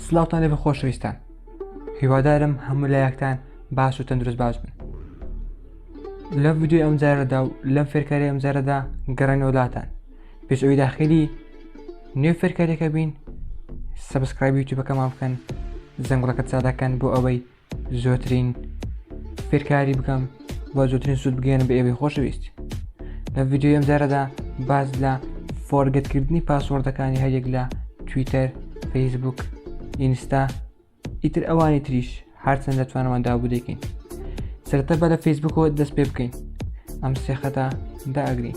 سلااوان لێ بە خۆشەویستان هیوادارم هەموو لایەکتان باش و تەندروست باش بن لە ویددیو ئەم جارەدا و لەم فێرکاری ئەم جارەدا گەڕێن وڵاتان پێش ئەوی داخلی نوێ فێرکارێکە بین سبسکرایبی یوتیوبەکەمان بکەن زەنگڵەکە چادەکەن بۆ ئەوەی زۆترین فێرکاری بکەم و زۆترین سوود بگەێنە بە ئێوەی خۆشەویست لە ڤیددیو ئەم جارەدا باز لە فۆرگەتکردنی پاسۆردەکانی هەریەک لە تویتەر فەیسبوک ئینستا ئیتر ئەوانی تریش هەرچەند لە توانەوەدا بوو دەکەین سرتە بە لە فەیسبوکەوە دەست پێ بکەین ئەم سێخەتە داگرین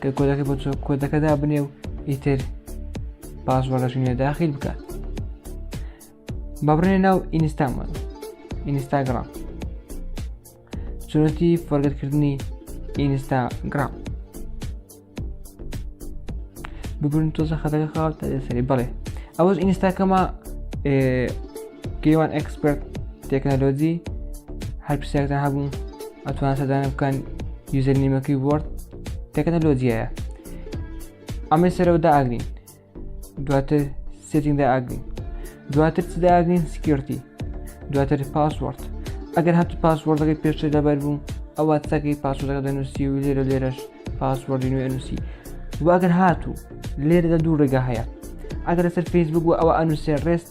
کە کۆدەکە بۆ چۆک کۆدەکە دابنێ و ئیتر پاسوەڕەش نوێ داخیل بکات بەبڕێ ناو ئینستامان ئینستاگرام چۆنەتی فۆرگەتکردنی ئینستاگرام ببرن تۆزە خەتەکە خاوت سەری بڵێ ئەوەش ئینستاکەمە گەیوان ئەکسپرت تەکنەلۆجی هەر پرسیارتان هەبوو ئەتوان سەدانە بکەن یوزەر نیمەکەی وۆرد تەکنەلۆجیایە ئەمەی سەرەوە داگرین دواتر سێتینگ داگرین دواتر چ داگرین سکیورتی دواتر پاسوەرد ئەگەر هەتو پاسوەردەکەی پێشتر لەبەر بوو ئەوە چەکەی پاسوەردەکە دەنووسی و لێرە لێرەش پاسوەردی نوێ نووسی واگەر هاتوو لێرەدا دوو ڕێگا هەیە ئەگەر لەسەر فیسبوک و ئەوە ئەنووسێ ڕێست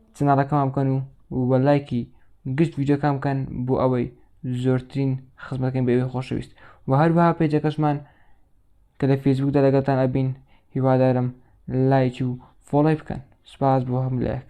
چەناڵەکەمان بکەن و وە لایکی گشت ڤیدیۆکان بکەن بۆ ئەوەی زۆرترین خزمەتەکەین بە ئێوەی خۆشەویست و هەروەها پێجەکەشمان کە لە فێسبوکدا لەگەڵتان ئەبین هیوادارم لایکی و فۆڵی بکەن سوپاس بۆ هەموو لایەک